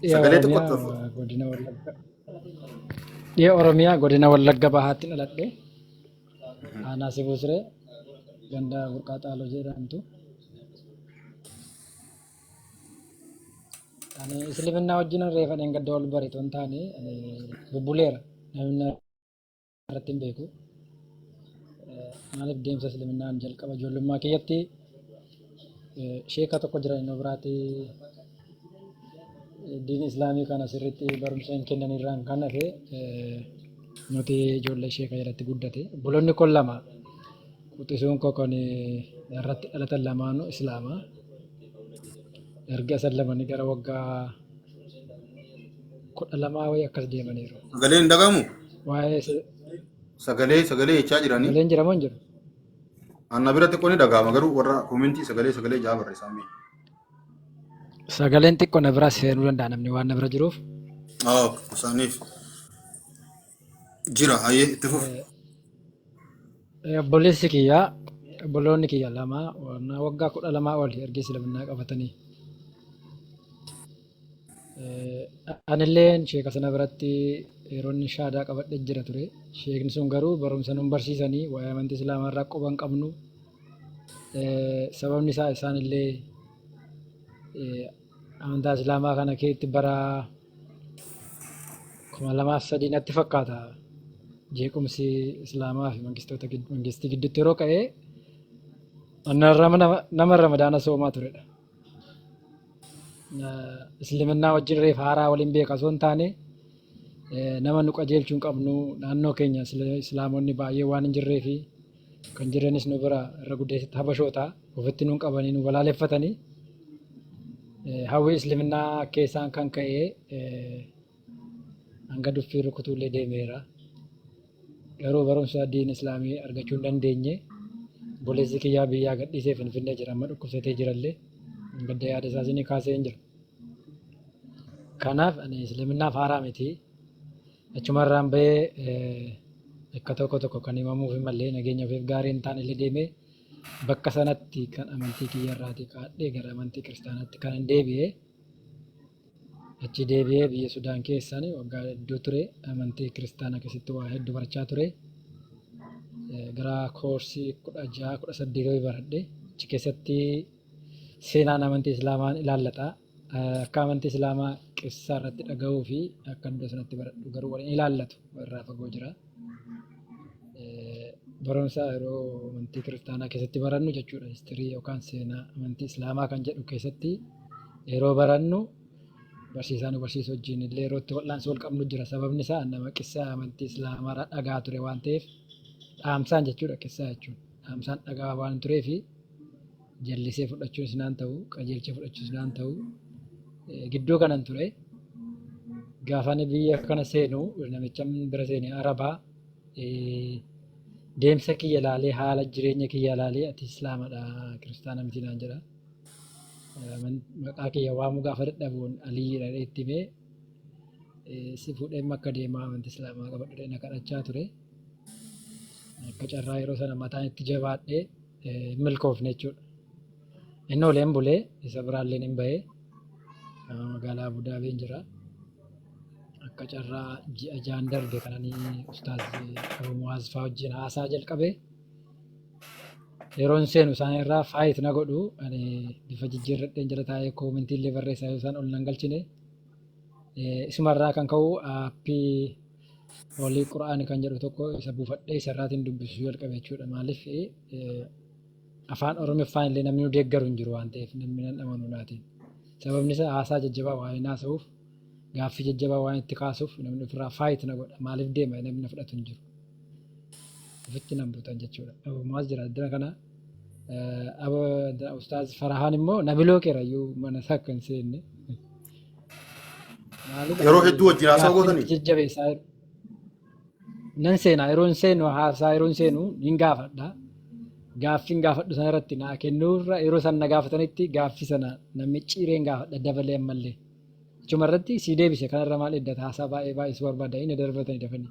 Dhiya Sagalee Oromiyaa xiqqootti ol fuudhu. eh, godina Wallagga. Dhiya Oromiyaa godina Wallagga bahaatti dhaladhe. Aanaa Sibuu Siree ganda Burqaa Xaaloo jedhamtu. Ani Isliminnaa wajjin reefa dheengadda wal barite waan taane ani bubbuleera. Namni irratti hin beeku. Maaliif deemsa Isliminnaan jalqaba ijoollummaa kiyyatti sheeka tokko jira inni biraati diin Islaamii kana sirriitti barumsa hin kennan irraan kan hafe nuti ijoollee sheeka jalatti guddate. Obboloonni kun lama quxisuun koo kan irratti dhalatan lamaanuu Islaama. Erga isan lamanii gara waggaa kudha lamaa wayii akkas deemaniiru. Sagalee hin dhagahamu? Waa'ee se- Sagalee sagalee jechaa jiranii. sagaleen jiramoo hin jiru? Anna bira xiqqoo ni dhagahama garuu warra koomentii sagalee sagalee jaa barreessaa mee. Sagaleen xiqqoo na biraa seenuu danda'a namni waan na bira jiruuf. Ah, isaaniif. Jira hayyee itti fufi. Eh, Obboleessi kiyya obboloonni kiyya lama warna waggaa kudha lamaa oli erga islaminaa qabatanii eh, anilleen sheeka sana biratti yeroon shaadaa qabadhe jira ture sheekni sun garuu barumsa nun barsiisanii waa'ee amantii islaamaa irraa quba hin qabnu Eh, sababni isaa isaanillee eh, Amantaa Islaamaa kana keessatti bara kuma lamaaf sadii natti fakkaata jeequmsi Islaamaa fi mangistoota gid- mangistii gidduutti yeroo ka'e nama nama ramadaana soomaa turedha. Eh, Isliminnaa wajjin reef haaraa waliin beeka osoo hin taane eh, nama nu qajeelchuu hin qabnu naannoo keenya isla- Islaamonni baay'ee waan hin jirree fi kan jirranis nu bira irra guddeessitti habashoota ofitti nun qabanii nu balaaleffatanii hawwii isliminaa keessaan kan ka'ee hanga duffii rukutuullee deemeera. Garuu barumsa diin islaamii argachuu hin dandeenye. Boleessi kiyyaa biyyaa gadhiisee finfinnee jira amma dhukkubsatee jirallee gadda yaada isaas ni kaasee hin jira. Kanaaf ani isliminaaf haaraa miti. Achuma irraan bahee bakka tokko tokko kan himamuuf hin malle nageenya ofiif gaarii hin taane illee deemee bakka sanatti kan amantii kiyya irraatii kaadhee gara amantii kiristaanaatti kan hin deebi'e. Achi deebi'ee biyya Sudaan keessaan waggaa hedduu ture amantii kiristaanaa keessatti waa hedduu barachaa ture. Gara koorsii kudha jaha kudha saddeetii baradhe achi keessatti seenaan amantii islaamaan ilaallata. Akka amantii islaamaa qissaa irratti dhagahuu fi akka iddoo sanatti baradhu garuu wal hin ilaallatu irraa fagoo jira. Barumsa yeroo amantii kiristaanaa keessatti barannu jechuudha histirii yookaan seenaa amantii islaamaa kan jedhu keessatti yeroo barannu barsiisaa nu barsiisu wajjin illee yeroo itti wal'aansoo wal qabnu jira sababni isaa nama qissaa amantii islaamaa irraa dhagaa ture waan ta'eef dhaamsaan jechuudha qissaa jechuun dhaamsaan dhagaa waan tureefi jallisee fudhachuun sinaan ta'u qajeelchee fudhachuun sinaan ta'u gidduu kanan ture gaafani biyya kana seenu namicha bira seene arabaa deemsa kiyya laalee haala jireenya kiyya laalee ati islaamadha kiristaana miti naan jedha maqaa kiyya waamuu gaafa dadhabuun aliyyiidha itti mee si fuudhee akka deemaa amantii islaamaa qabadhu na kadhachaa ture akka carraa yeroo sana mataan itti jabaadhee hin milkoofne jechuudha. Inni oleen bulee isa biraalleen hin bahee magaalaa Abudaabiin jira. Akka carraa ji'a jaan darbe kananii ustaaz Abu Muwaaz fa'aa wajjin haasaa jalqabe. Yeroon seenu isaan irraa faayit na godhu ani bifa jijjiirradheen jala taa'ee koomintii illee barreessaa yoo isaan ol nan galchine. Isumarraa kan ka'u aappii Wly qur'ani kan jedhu tokko isa bufadhe isa irraatin dubbisu jalqabe jechuudha maalif afaan oromiffaan illee namni nu deeggaru hin jiru waan ta'eef namni nan amanu naatiin sababni isaa haasaa jajjabaa waan hin haasa'uuf gaaffii jajjabaa waan itti kaasuuf namni ofirraa faayit na godha maalif deema namni na fudhatu hin jiru ofitti nan butan jechuudha abumaas jira addana kana aba ustaaz farahaan immoo nabiloo keerayyuu mana isaa akka hin seenne Maalidha? Yeroo hedduu wajjin haasaa Gaaffiin gootanii? itti jajjabeessaa jiru. Nan seenaa yeroo hin seenu haasaa yeroo hin seenu hin gaafadha. Gaaffiin gaafadhu sana irratti naa kennuurra yeroo san na gaafatanitti gaaffii sana na micciireen gaafadha dabalee ammallee. Achuma irratti sii deebise kanarra maal eeggata haasaa baay'ee baay'isuu barbaada inni darbatanii dafanii.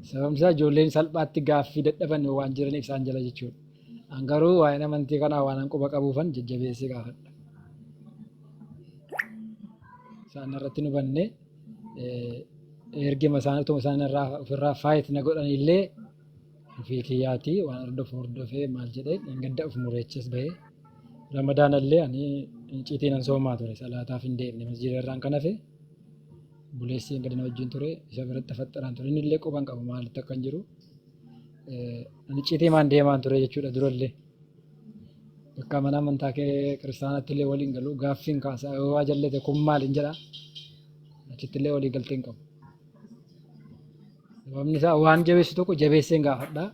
Sababni isaa ijoolleen salphaatti gaaffii dadhaban waan jiraniif isaan jala jechuudha. An garuu waa'een amantii kanaa waan an quba qabuufan jajjabeessee gaafadha. isaan irratti nu banne ergima isaan utuma isaan irraa ofirraa faayit na godhan illee ofii kiyyaatii waan hordofu hordofee maal jedhee hin gadda of mureechis bahee ramadaan illee ani iciitiin an soomaa ture salaataaf hin deemne masjiida irraan kan hafe buleessi gadi na wajjin ture isa biratti faxxaraan ture inni illee quban qabu maalitti akka hin jiru ani iciitii maan deemaan ture jechuudha durallee. Bakka mana amantaa kee kiristaanaatti illee waliin galu gaaffiin kaasa yoo waa jallate kun maal hin jedha achitti illee walii galtee hin qabu. Sababni isaa waan jabeessu tokko jabeessee hin gaafadha.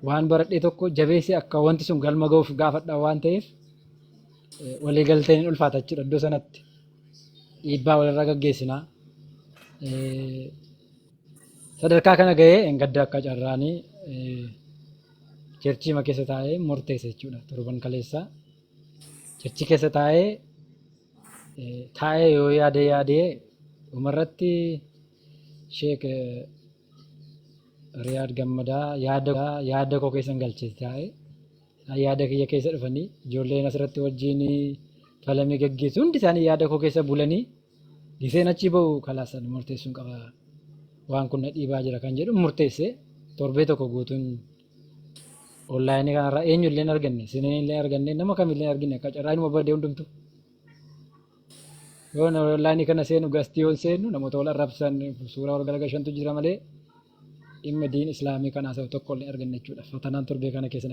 Waan baradhee tokko jabeessee akka wanti sun galma ga'uuf gaafadha waan ta'eef eh, walii galteen hin ulfaata jechuudha iddoo sanatti dhiibbaa walirraa gaggeessinaa. Eh, Sadarkaa kana ga'ee hin gadda akka carraanii eh, Cherchiima keessa taa'ee murteessa jechuudha. Torban kaleessaa cherchi keessa taa'ee eh, taa'ee yoo yaadee yaadee dhumarratti sheek eh, Riyaad Gammadaa yaada yaada koo keessan galche taa'ee isaan yaada kiyya keessa dhufanii ijoolleen asirratti wajjin falamii gaggeessu hundi isaanii yaada koo keessa bulanii Giseen achi ba'u kalaas ani murteessuun qaba waan kun na dhiibaa jira kan jedhu murteesse torbee tokko guutuun onlaayinii kanarraa eenyu illee hin arganne sineen illee hin arganne nama kam illee hin argine akka carraa inuma badee hundumtu. Yoo onlaayinii kana seenu gastii yoon seenu namoota wal arrabsan suuraa wal galagashantu jira malee dhimma diin islaamii kan haasa'u tokko illee arganne jechuudha. Fatanaan torbee kana keessa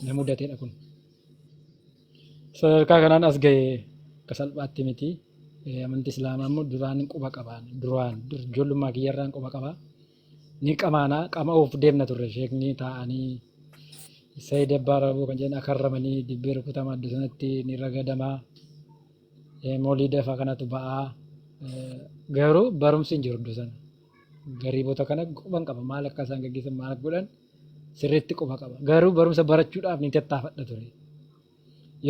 na mudateedha kun. sadarkaa kanaan as gahe akka salphaatti miti. Amanti Islaamaa immoo duraan quba qabaan duraan ijoollummaa kiyyarraan quba qaba. Ni qamaana qama'uuf deemna turre sheekni taa'anii Sayyid Abbaa Rabuu kan jedhan akarramanii dibbee rukutama adda sanatti ni ragadama. Mooliida fa'aa kanatu ba'aa. Garuu barumsi hin jiru iddoo sana. gariibota kana quban qaba maal akka isaan gaggeessan maal akka godhan sirriitti quba qaba garuu barumsa barachuudhaaf ni tattaafadha ture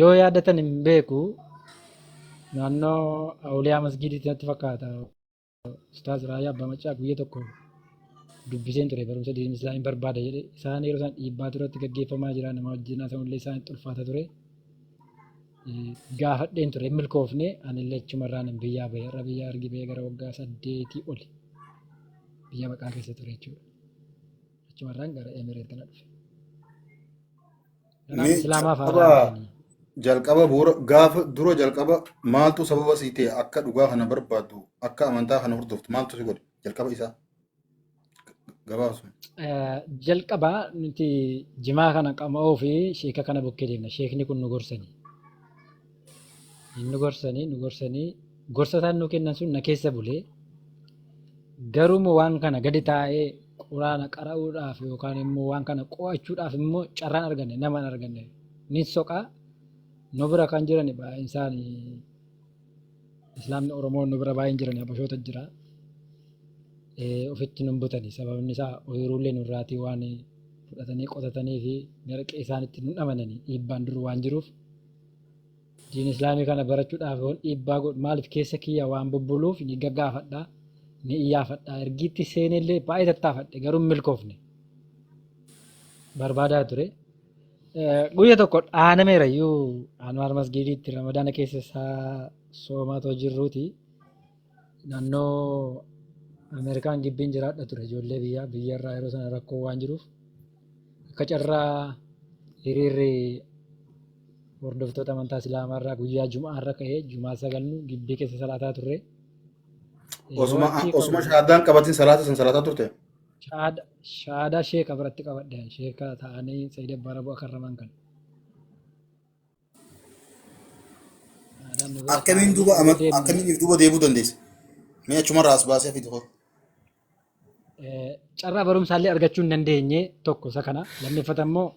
yoo yaadatan hin beeku naannoo awuliyaa masgiidiitti natti fakkaata ustaaz raayyaa abbaa macaa guyya tokko dubbiseen ture barumsa diinii islaamii barbaada jedhe isaan yeroo isaan dhiibbaa turatti gaggeeffamaa jira nama wajjin haasa'ullee isaan itti ulfaata ture gaafadheen ture hin milkoofne anillee achumarraan hin biyyaa ba'e irra biyyaa ergi ba'ee gara waggaa saddeetii oli biyya baqaa keessa ture jechuudha. Achumarraan gara Emireet kana dhufe. Garaan Mee Islaamaa fa'aa jalqaba raawwatanii. jalqaba bu'uura gaafa dura jalqaba maaltu sababa sii ta'e akka dhugaa kana barbaaddu akka amantaa kana hordoftu maaltu si godhe jalqaba isaa. gabaabsuma. Eh, jalqaba nuti jimaa kana qama'uu fi sheeka kana bukkee deemna. Sheekni kun nu gorsani. Nu gorsani, nu gorsani. Gorsa isaan nu kennan sun na keessa bulee. Garuu immoo waan kana gadi taa'ee quraana qara'uudhaaf yookaan immoo waan kana qo'achuudhaaf immoo carraan arganne nama hin arganne. Nin soqaa nu bira kan jiran baay'een isaanii Islaamni Oromoo nu bira baay'ee hin jiran habashoota jira. Eh, Ofitti nun butani sababni isaa ooyiruullee nurraatii waan fudhatanii qotatanii fi gara qe'ee isaanitti nun amananii dhiibbaan dur waan jiruuf diin islaamii kana barachuudhaaf yoon dhiibbaa godhu maaliif keessa kiyya waan bubbuluuf ni gaggaafadha ni iyyaafadha ergiitti seenellee baay'ee tattaafadhe garuu hin milkoofne barbaadaa ture. Guyya tokko dhaanameera iyyuu Anwaar Masgiidiitti Ramadaana keessa isaa soomaa too jirruuti. Naannoo Ameerikaan gibbiin jiraadha ture ijoollee biyyaa biyya irraa yeroo sana rakkoo waan jiruuf akka carraa hiriirri hordoftoota amantaa Islaamaa irraa guyyaa Jumaa irra ka'ee Jumaa sagalnu gibbii keessa salaataa turre. Yeroo Osuma achi osuma qabu shahaadaan qabatin salaata san salaataa turte. Shahaada shahaadaa sheeka biratti qabadhe ani sheeka ta'anii Sayyid Abbaa Raboo akka raman kan. Shahaadaan nu bira akkamiin taa'anii duuba nu ama- deemne. akkamiin if duuba deebuu dandeessa mee achumarraa as baasee fidi hoo Eh, carraa barumsaallee argachuu hin dandeenye tokko isa kana lammeeffata immoo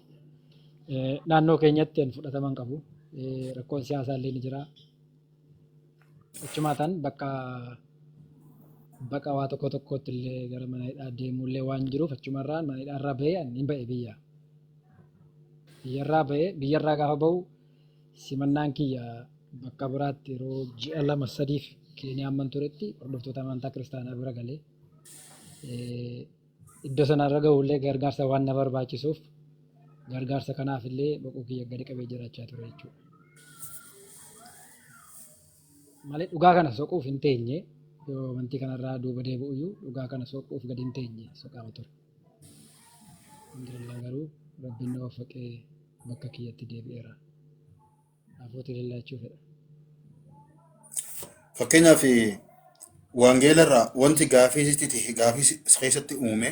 eh, naannoo keenyatti hin fudhataman qabu Eh, rakkoon siyaasaallee ni jira Achumaatan bakka baqa waa tokko tokkootti illee gara mana hidhaa deemuu illee waan jiruuf achumarraa mana hidhaa irraa bahee ani hin ba'e biyya. Biyyarraa bahee biyyarraa gaafa bahu simannaan kiyya bakka biraatti yeroo ji'a lama sadiif Keeniyaa amman turetti hordoftoota amantaa kiristaanaa bira galee Iddoo sana irra gahuuf illee gargaarsa waan na barbaachisuuf gargaarsa kanaaf illee boquu kiyya gadi qabee jiraachaa ture jechuudha. Malee dhugaa kana soquuf hin teenye yoo amantii kanarraa duuba deebi'u iyyuu dhugaa kana soquuf gadi hin teenye soqaama ture. Alhamdulillah garuu rabbiin na waffaqee bakka kiyyatti deebi'eera. Hafuuti lallaachuu fedha. Fakkeenyaaf wangeela irraa wanti gaafii sitti ta'e gaafii si si keessatti uume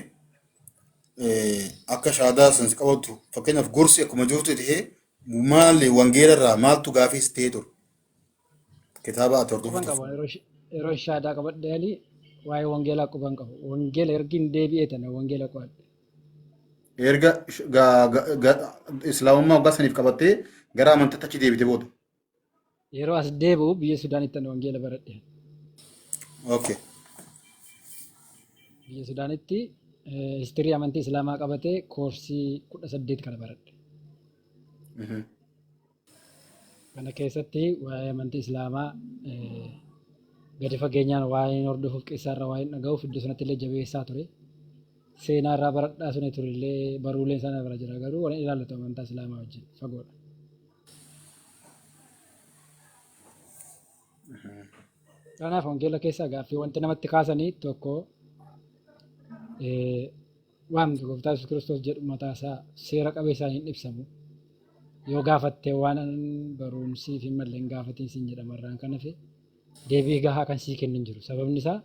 eh, akka shaadaa san si qabatu fakkeenyaaf gorsi akkuma jirtu ta'e maali wangeela irraa maaltu gaafii si ta'e ture kitaaba ati Quban hordoftu qaba. Yeroo sh- yeroo shaadaa qabadhe ali waa'ee wangeelaa quban qaba. Wangeela ergin deebi'ee tana wangeela qo'adhe. erga sh- ga- ga- ga- islaamummaa waggaa saniif qabattee gara amantiitti achi deebite booda. Yeroo as deebi'u biyya Sudaanitti ani wangeela baradhe. Okay. Biyya Sudaanitti eh, histirii amantii Islaamaa qabatee koorsii kudha saddeet kana baradhe. Mhm. Kana keessatti waa'ee amantii Islaamaa gadi fageenyaan waa'een hordofuuf qissaa irraa waa'een dhaga'uuf iddoo sanatti illee jabeessaa ture. Seenaa irraa baradhaa sun ture illee baruuleen sana bira jira garuu waan ilaallatu amantaa Islaamaa wajjin fagoodha. Kanaaf wangeela keessaa gaaffii wanti namatti kaasanii tokko Waamni Gooftaa Yesuus Kiristoos jedhu mataa isaa seera qabeessaan hin ibsamu. Yoo gaafatte waan baruun siif hin malle hin gaafatiin siin jedhama irraan kan hafe deebii gahaa kan sii kennu hin jiru. Sababni isaa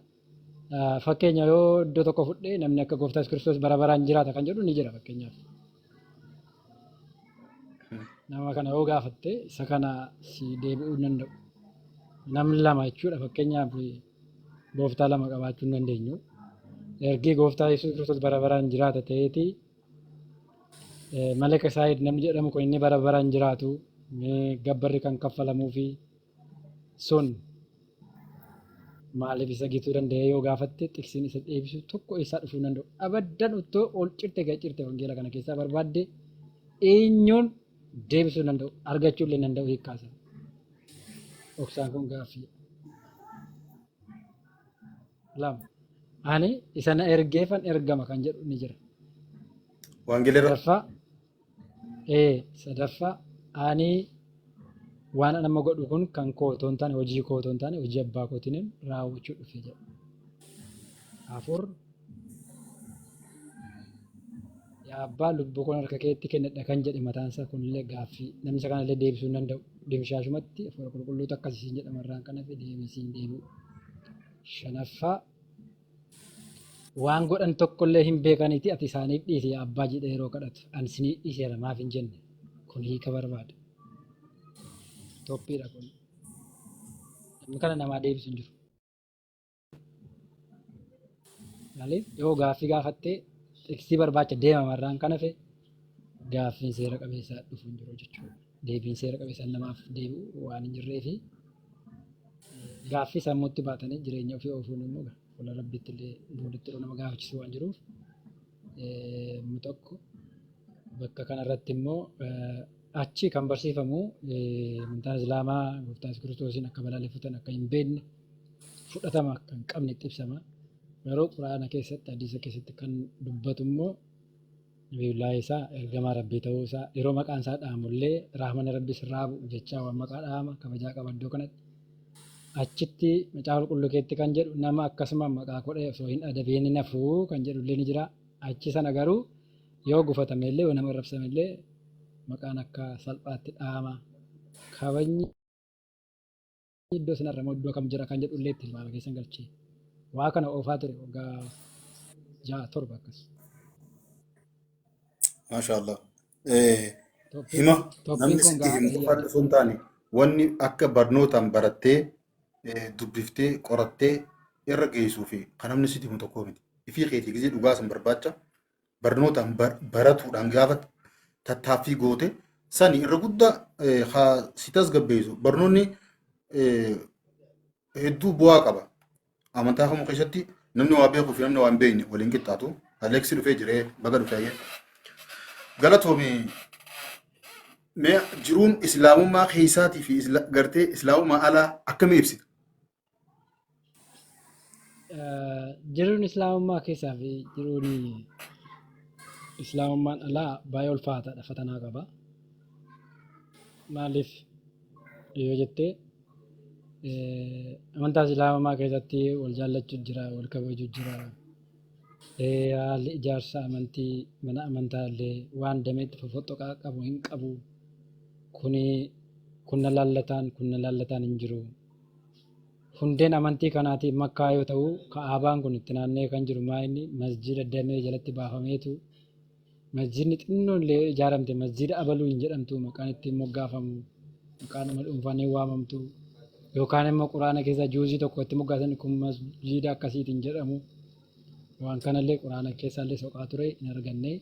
fakkeenya yoo iddoo tokko fudhee namni akka Gooftaa Yesuus Kiristoos bara baraan jiraata kan jedhu ni jira fakkeenyaaf. Nama kana yoo gaafatte isa kana si deebi'uu hin danda'u. Namni lama jechuudha fakkeenyaaf gooftaa lama qabaachuu hin dandeenyu. Ergii gooftaa Yesuus Kiristoos bara baraan jiraata ta'eeti eh, Malaka Saayid namni jedhamu kun inni bara baraan jiraatu eh, gabbarri kan kaffalamuu fi sun maaliif isa gituu danda'ee yoo gaafatte xiqsiin isa deebisu tokko eessaa dhufuu hin danda'u. Abaddan uttoo ol cirte gad cirte wangeela kana keessaa barbaadde eenyuun deebisuu danda'u argachuu illee danda'u hiikkaa isaa dhoksaan kun gaaffii lama ani isa na ergeefan ergama kan jedhu ni jira Wangeela irra sadaffaa ee sadaffaa ani waan an amma godhu kun kan koo otoo hin taane hojii koo otoo hin taane hojii abbaa kootiin raawwachuu dhufe jedha afur Yaa abbaa lubbuu kun harka keetti kennadha kan jedhe mataan isaa kunillee gaaffii namni isa kanallee deebisuu hin danda'u. Dimshaashumatti hafuura qulqulluutu akkasii siin jedhama irraan kan hafe deebii siin deebi'u. Shanaffaa waan godhan tokkollee hin beekaniiti ati isaaniif dhiisi yaa abbaa jedhee yeroo kadhatu ani isinii dhiiseera maaf hin jenne kun hiika barbaada. Toppiidha kun. Namni kana namaa deebisu hin jiru. Maaliif yoo gaaffii gaafattee xiqsii barbaacha deemama irraan kan hafe gaaffiin seera qabeessaa dhufu hin jiru jechuudha. Deebiin seera qabeessaa namaaf deebi'u waan hin jirree fi gaaffii sammuutti baatanii jireenya ofii oofuun immoo fuula rabbiitti illee booditti illee nama gaafachiisu waan jiruuf inni tokko bakka kanarratti immoo achi kan barsiifamu amantaan islaamaa gooftaa kiristoosiin akka balaaleffatan akka hin beekne fudhatama akka hin qabnetti ibsama. Garuu Qur'aana keessatti, hadiisa keessatti kan dubbatu immoo Nabiyullaahi Iisaa ergamaa Rabbii ta'uu isaa yeroo maqaan isaa dhaamu illee rahmana Rabbi sirraa bu'u jechaa waan maqaa dhaama kabajaa qaba iddoo kanatti. Achitti macaafa qulqulluu keessatti kan jedhu nama akkasuma maqaa godhee osoo hin adabiin hin hafu kan jedhu illee ni jira. Achi sana garuu yoo gufatame illee yoo nama arrabsame illee maqaan akka salphaatti dhaama. Kabajni iddoo sanarra moo iddoo kam jira kan jedhu illee tilmaama keessan galchee waa kana oofaa ture waggaa ja'a torba akkas. Maashaallah. Eh, Tooppiin Hima tooppiin namni kun sitti gahaa himu ta'ee qofa yaada. osoo hin taane wanni akka barnootaan barattee eh, dubbiftee qorattee irra geessuu fi kan namni sitti himu tokko miti. Ifii keetii gisee dhugaa san barbaacha barnootaan bar- baratuudhaan gaafa tattaaffii goote sani irra guddaa eh, haa si tasgabbeessu barnoonni eh, hedduu bu'aa qaba amantaa kamuu keessatti namni waa beekuu fi namni waa hin beekne waliin qixxaatu aleeksi dhufee jiree baga dhufee galatoomi mee jiruun islaamummaa keessaatii fi isla- gartee islaamummaa alaa akkamii ibsita jiruun islaamummaa keessaa fi jiruun islaamummaan alaa baay'ee ulfaataadha fatanaa qaba maaliif yoo jettee amantaa islaamummaa keessatti wal jaallachuu jira wal kabajuu jira haalli ijaarsa amantii mana amantaa illee waan dameetti fofoxoqaa qabu hin qabu kuni kunna laallataan kunna laallataan hin jiru Hundeen amantii kanaatii Makkaa yoo ta'u, Ka'abaan kun itti naanna'ee kan jiru maa inni masjiida damee jalatti baafameetu masjiidni xinnoon illee yoo ijaaramte masjiida abaluu hin jedhamtu maqaan ittiin moggaafamu maqaadhuma dhuunfaan hin waamamtu yookaan immoo quraana keessa juuzii tokko itti moggaasan kun masjiida akkasiitiin jedhamu waan kanallee quraana keessaallee soqaa ture hin arganne.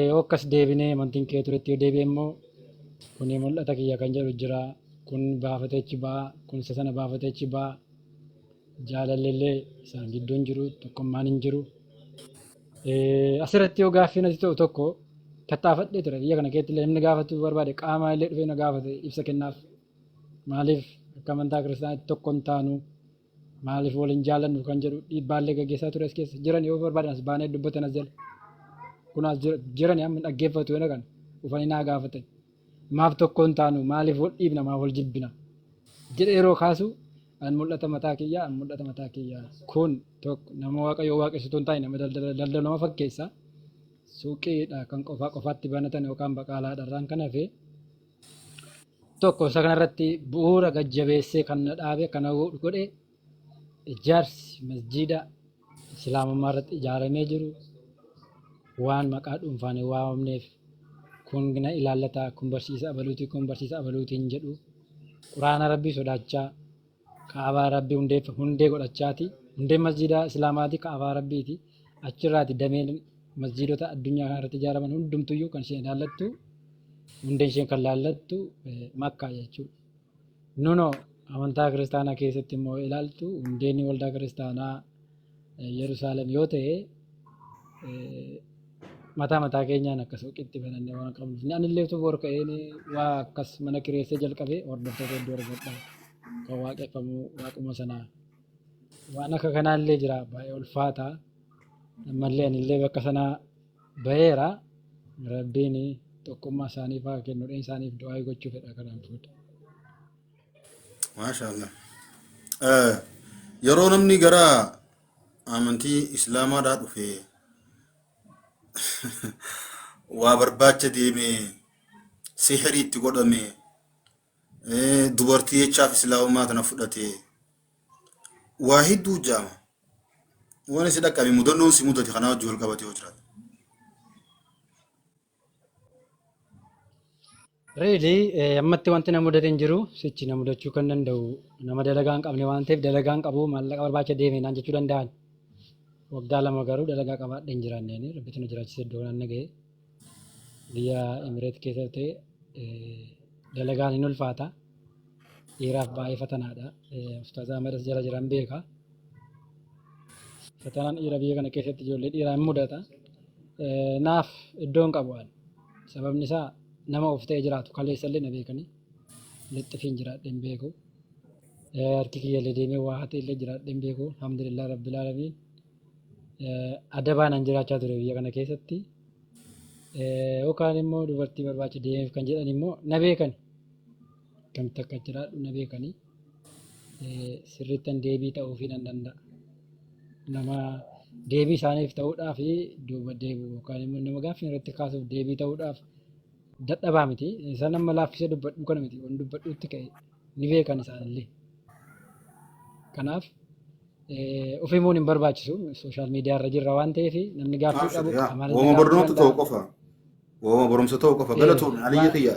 Yoo akkas deebinee amantiin kee turetti yoo deebi'e immoo kuni mul'ata kiyya kan jedhu jira. Kun baafatee achi ba'a. Kun isa sana baafatee achi ba'a. Jaalalli illee isaan gidduu hin jiru. Tokkummaan hin jiru. Asirratti yoo gaaffiin ati ta'u tokko tattaafadhee ture. Biyya kana keessatti illee namni gaafachuu barbaade qaamaa illee dhufee na gaafate ibsa kennaaf. Maaliif akka amantaa kiristaanaatti tokko hin taanu? Maaliif wal hin jaallannu kan jedhu dhiibbaallee gaggeessaa ture as keessa. Jiran yoo barbaadan as baanee dubbatan as jala. Kun as jira- jiran amma dhaggeeffatu yoo kan dhufanii naa gaafatan. Maaf tokko hin taanu maaliif wal dhiibna maaf wal jibbina. Jedhee yeroo kaasu an mul'ata mataa kiyyaa an mul'ata mataa kiyyaa. Kun tokko nama waaqayyoo waaqessituun taa'e nama daldala daldaluma fakkeessa. Suuqiidha kan qofaa qofaatti banatan yookaan baqaalaadha irraan kan hafe. Tokko isa kanarratti bu'uura gad jabeessee kan na dhaabe kan na godhe ijaarsi masjiida islaamummaa irratti ijaaramee jiru waan maqaa dhuunfaan hin waamamneef kun na ilaallata kun barsiisa abaluuti kun barsiisa abaluutiin jedhu quraana rabbii sodaachaa Ka'abaa Rabbii hundeef hundee godhachaati. Hundeen masjiida Islaamaati Ka'abaa Rabbiiti. Achirraati dameen masjiidota addunyaa kana irratti ijaaraman hundumtuyyuu kan isheen ilaallattu hundeen isheen kan ilaallattu eh, Makkaa jechuudha. Nuno amantaa kiristaanaa keessatti immoo ilaaltu hundeen waldaa kiristaanaa Yerusaalem yoo ta'e mataa mataa keenyaan akka suuqiitti banannee waan qabnuuf inni anillee utuu bor ka'een waa akkas mana kireessee jalqabee hordoftoota hedduu argadha kan waaqeffamu waaquma sanaa waan akka kanaallee jira baay'ee ulfaataa ammallee anillee bakka sanaa ba'eera rabbiin tokkummaa isaaniif haa kennu isaaniif du'aa gochuu fedha kanaan fuudha. Maasha Allah. Eh, Yeroo namni gara amantii Islaamaadhaa dhufe waa barbaacha deeme, sihrii itti godhame, eh, dubartii jechaaf Islaamummaa tana fudhate, waa hedduu jaama. Waan si dhaqqabe mudannoon si mudate kanaa wajjin wal qabate yoo jiraate. Reeli ammatti wanti na mudate hin jiru sichi na mudachuu kan danda'u nama dalagaa hin qabne waan ta'eef dalagaa hin qabu maallaqa barbaacha deeme naan jechuu danda'an. Waggaa lama garuu dalagaa qabaadhe hin jiraanne ani rabbitu na jiraachise iddoo kanaan na ga'e. Biyya Emireet keessa ta'e dalagaan hin ulfaata. Dhiiraaf baay'ee fatanaadha. Ustaaz Ahmadas jala jiran beeka. Fatanaan dhiira biyya kana keessatti ijoollee dhiiraa hin mudata. Naaf iddoo hin qabu ani. Sababni isaa nama of ta'ee jiraatu kaleessa illee na beekanii lixxifiin jiraadhee hin beeku. Harki kiyya illee deemee waa hatee illee jiraadhee hin beeku. Alhamdulillah Rabbil Aalamiin. Adabaanan jiraachaa ture biyya kana keessatti. Yookaan immoo dubartii barbaacha deemeef kan jedhan immoo na beekani. Akkamitti akka jiraadhu na beekanii sirrittan deebii ta'uufii nan danda'a. Nama deebii isaaniif ta'uudhaaf duuba deebi'u yookaan immoo nama gaaffii irratti kaasuuf deebii ta'uudhaaf dadhabaa miti. Isaan amma laaffisee dubbadhu kana miti. Waan dubbadhuutti ka'e ni beekan isaanillee. Kanaaf of himuun hin barbaachisu. Sooshaal miidiyaa irra jirra waan ta'eef namni gaaffii qabu qaamaan Uuma barnoota ta'u qofa. Waama barumsa ta'uu qofa. Galatoomii aliyya kiyya.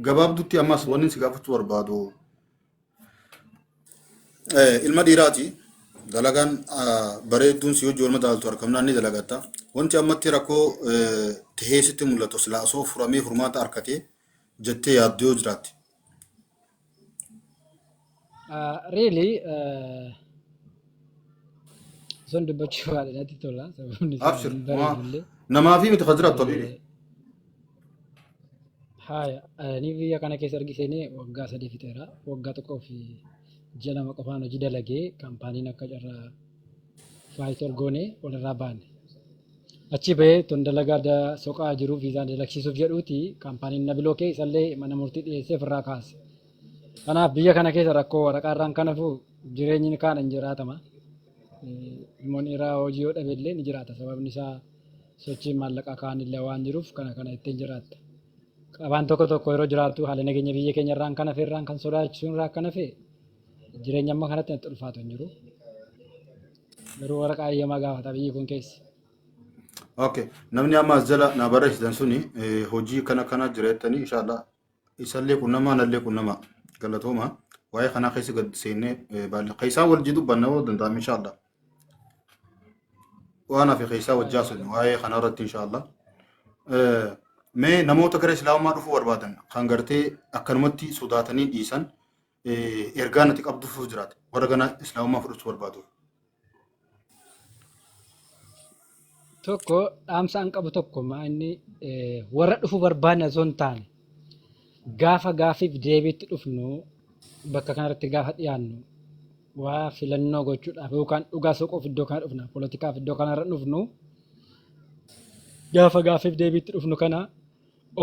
Gabaabdutti ammas wanni si gaafachuu barbaadu. Ilma dhiiraati. Dalagaan bareedduun si hojii walma daaltu harkamnaan ni dalagatta. Wanti ammatti rakkoo tahee sitti mul'atu silaa osoo furamee furmaata harkatee jettee yaaddoo jiraatti. Really, sun dubbachuu baadha natti tola. Sababni isaa Abshir. hin bareedu illee. Namaa fi miti kan jiraattu habibi. Haaya, ani biyya kana keessa erga seenee waggaa sadii fixeera. Waggaa tokkoo fi ji'a lama qofaan hojii dalagee kaampaaniin akka carraa faayitor goonee walirraa baane. Achii bahee ton dalagaa da soqaa jiru viizaan dalaksiisuuf jedhuuti kaampaaniin na bilookee isallee mana murtii dhiyeessee ofirraa kaase. Kanaaf biyya kana keessa rakkoo waraqaa irraan kan hafu jireenyi ni kaadhan jiraatama. Ilmoon dhiiraa hojii yoo dhabe illee ni jiraata sababni isaa sochiin maallaqaa kaan illee waan jiruuf kana kana ittiin jiraatta. Qabaan tokko tokko yeroo jiraattu haala nageenya biyya keenya irraan kan hafe irraan kan sodaachisuun irraa kan hafe jireenya amma kanatti natti ulfaatu hin jiru. Garuu waraqaa eeyyamaa gaafata biyyi kun keessi. Okay. Namni amma as jala na barreessitan suni eh, hojii kana kana jira jettanii inshaallah isallee qunnamaa nallee qunnamaa galatooma waa'ee kanaa keessa gad seennee eh, baalla keessaa wal jiru banna yoo danda'ame inshaallah waan hafe keessaa wajjaa sun waa'ee kanaa irratti inshaallah Eh, mee namoota gara islaamummaa dhufuu barbaadan kan gartee akkanumatti sodaatanii dhiisan eh, ergaa nuti qabdu fuu jiraate warra gana islaamummaa fudhachuu barbaaduuf. Tokko dhaamsa an qabu tokko maa inni eh, warra dhufu barbaanne osoo hin taane gaafa gaafiif deebiitti dhufnu bakka kanarratti gaafa dhiyaannu waa filannoo gochuudhaaf yookaan dhugaa soquuf iddoo kana dhufna poolitikaaf iddoo kanarra dhufnu gaafa gaafiif deebiitti dhufnu kana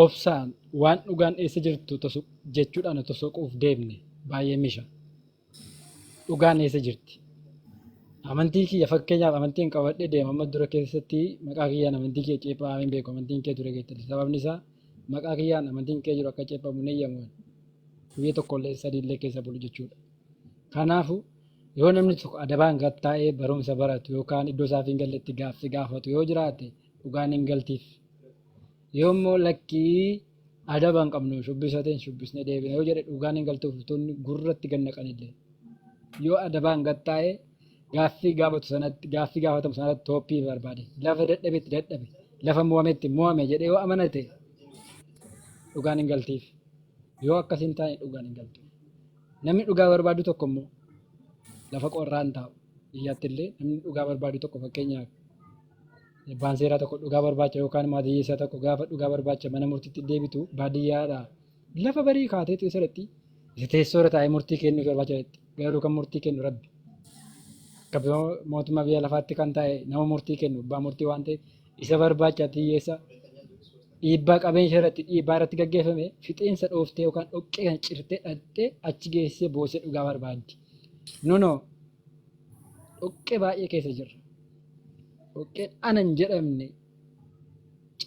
Obsaan waan dhugaan eessa jirtu tosu jechuudhaan otoo soquuf deemne baay'ee misha. Dhugaan eessa jirti? Amantii kiyya fakkeenyaaf amantiin qabadhee deema amma dura keessatti maqaa kiyyaan amantii kiyya ceephaa hin beeku amantiin kee ture jettani sababni isaa maqaa kiyyaan amantiin kee jiru akka ceephamu hin eeyyamuun guyya tokkollee sadii illee keessa bulu jechuudha. Kanaafu yoo namni tokko adabaan gad taa'ee barumsa baratu yookaan iddoo isaaf hin galletti gaaffii gaafatu yoo jiraate dhugaan hin galtiif. Yoo immoo lakkii adaba hin qabnu shubbisa ta'e hin shubbisne deebina yoo jedhe dhugaan hin galtuuf utuunni gurratti gad naqanillee. Yoo adabaan gad taa'e gaaffii gaafatu sanatti gaaffii gaafatamu sanatti tooppii barbaade lafa dadhabetti dadhabe lafa mo'ametti mo'ame jedhee yoo amanate dhugaan hin galtiif. Yoo akkas hin taane dhugaan hin galtu. Namni dhugaa barbaadu tokko immoo lafa qorraa hin taa'u. Biyyaatti illee namni dhugaa barbaadu tokko fakkeenyaaf Abbaan seeraa tokko dhugaa barbaacha yookaan immoo adiyyeessaa tokko gaafa dhugaa barbaacha mana murtiitti deebitu baadiyyaadhaa lafa barii kaateetu isa dhaqxi. Isa teessoo irra taa'ee murtii kennuuf barbaacha dhaqxi. Garuu kan murtii kennu rabbi. Akka mootummaa biyya lafaatti kan taa'e nama murtii kennu abbaa murtii waan ta'eef isa barbaacha adiyyeessa dhiibbaa qabeenya irratti dhiibbaa irratti gaggeeffame fixeensa dhooftee yookaan dhoqqee kan cirtee dhaqxee achi geessee boosee dhugaa barbaaddi. Nunoo dhoqqee baay'ee keessa jirra. dhoqqeen ana hin jedhamne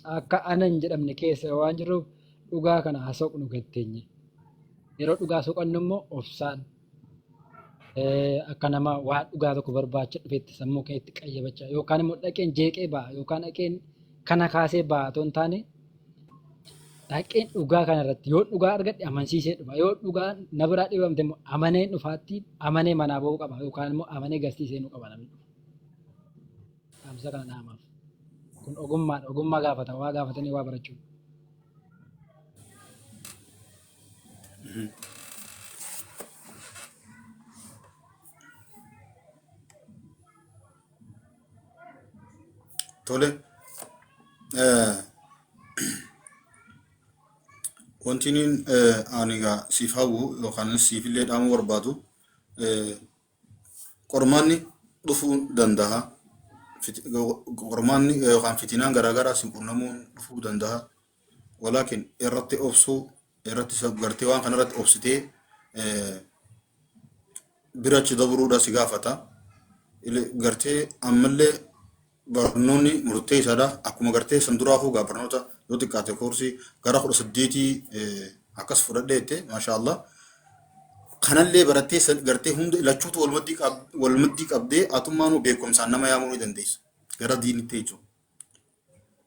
caakkaa ana hin jedhamne keessa waan jiruuf dhugaa kana haa soqnu gatteenye. Yeroo dhugaa soqannu immoo obsaan akka nama waan dhugaa tokko barbaacha dhufetti sammuu keetti qayyabachaa yookaan immoo dhaqeen jeeqee ba'a yookaan dhaqeen kana kaasee ba'a otoo hin taane dhaqeen dhugaa kana irratti yoo dhugaa argadhe amansiisee dhufa yoo dhugaa na biraa dhibamte immoo amanee dhufaatti amanee manaa ba'uu qaba yookaan immoo amanee garsiisee nu qaba namni dhufa. dhaamsa kana dhaamaaf. Kun ogummaadha. Ogummaa gaafata. Waa gaafatanii waa barachuu. Tole. eh, Wanti inni eh, ani egaa siif hawwu yookaan siif illee dhaamuu barbaadu eh, Qormaanni dhufuu danda'a. Fit- Qormaanni yookaan fitinaan garaagaraa si qunnamuun dhufuu danda'a. Walaakin irratti obsuu, irratti sab- gartee waan kanarratti obsitee eh, bira achi dabruudha si gaafata. Ile- Gartee ammallee barnoonni murteessaadha. Akkuma gartee san duraafuu gaa barnoota yoo xiqqaate koorsii gara kudha saddeetii akkas fudhadhee jette maashaa Allah. Kanallee barattee san gartee hunda lachuutu walmaddii qab- walmaddii qabdee atummaanuu beekumsaan nama yaamuu ni dandeessa. Gara diinitti jechuudha.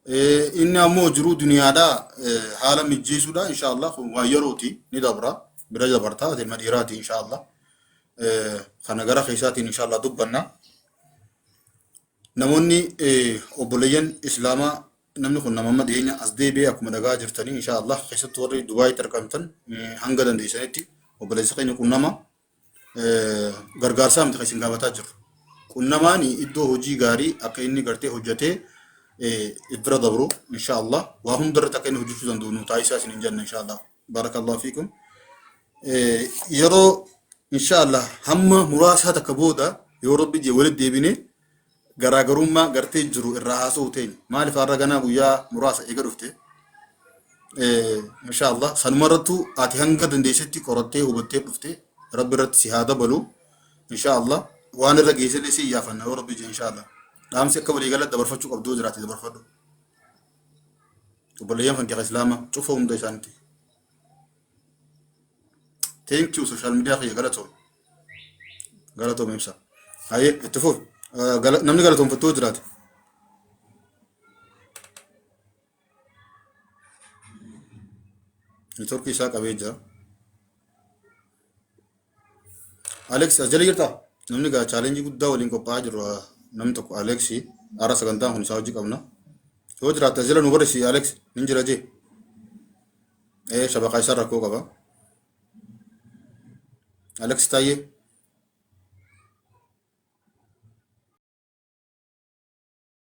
Eh, Inni ammoo jiruu duniyaadhaa eh, haala mijjeessuudha insha Allah kun waan yerooti ni dabra bira dabartaa ilma dhiiraati insha Allah. Eh, Kana gara keessaatiin insha Allah dubbanna. namoonni obboleeyyan islaamaa namni kun nama amma dhiyeenya as deebi'ee akkuma dhagaa jirtanii insha Allah keessattuu warri Dubaayitti argamtan hanga dandeessanitti obboleessa keenya qunnama gargaarsaa miti kan isin gaafataa jiru. Qunnamaan iddoo hojii gaarii akka inni gartee hojjetee bira dabru insha Allah waa hundarratti akka inni hojjechuu danda'u nu taasisaa isin hin jenne insha Allah. Barakallahu fiikum. Eh, Yeroo inshaallah hamma muraasaa takka booda yoo rabbi jee walitti deebine garaagarummaa gartee jiru irraa haasa'uu teenya. Maaliif har'a ganaa guyyaa muraasa eega dhufte? Eh, Inshaallah sanuma irrattu ati hanga dandeessetti qorattee hubattee dhufte rabbi irratti si haa dabalu. Inshaallah waan irra geessellee si iyyaafanna yoo rabbi jee inshaallah. Dhaamsi akka waliigala dabarfachuu qabdu yoo jiraate dabarfadhu. obboleeyyan kan kiyya islaama cufa hunda isaanitti thank you social media kiyya galatoom galatoom ibsa haye itti fuuf namni galatoomfattuu jiraate networkii isaa qabee jira Alex as jala jirta. Namni gaa chaalenjii guddaa waliin qophaa'aa jiru ah, namni tokko Alex har'a sagantaan kun isaa hojii qabna. Yoo jiraatte as jala nu barreessi Alex nin jira jee. Ee shabakaa isaa rakkoo qaba. Alex Taayyee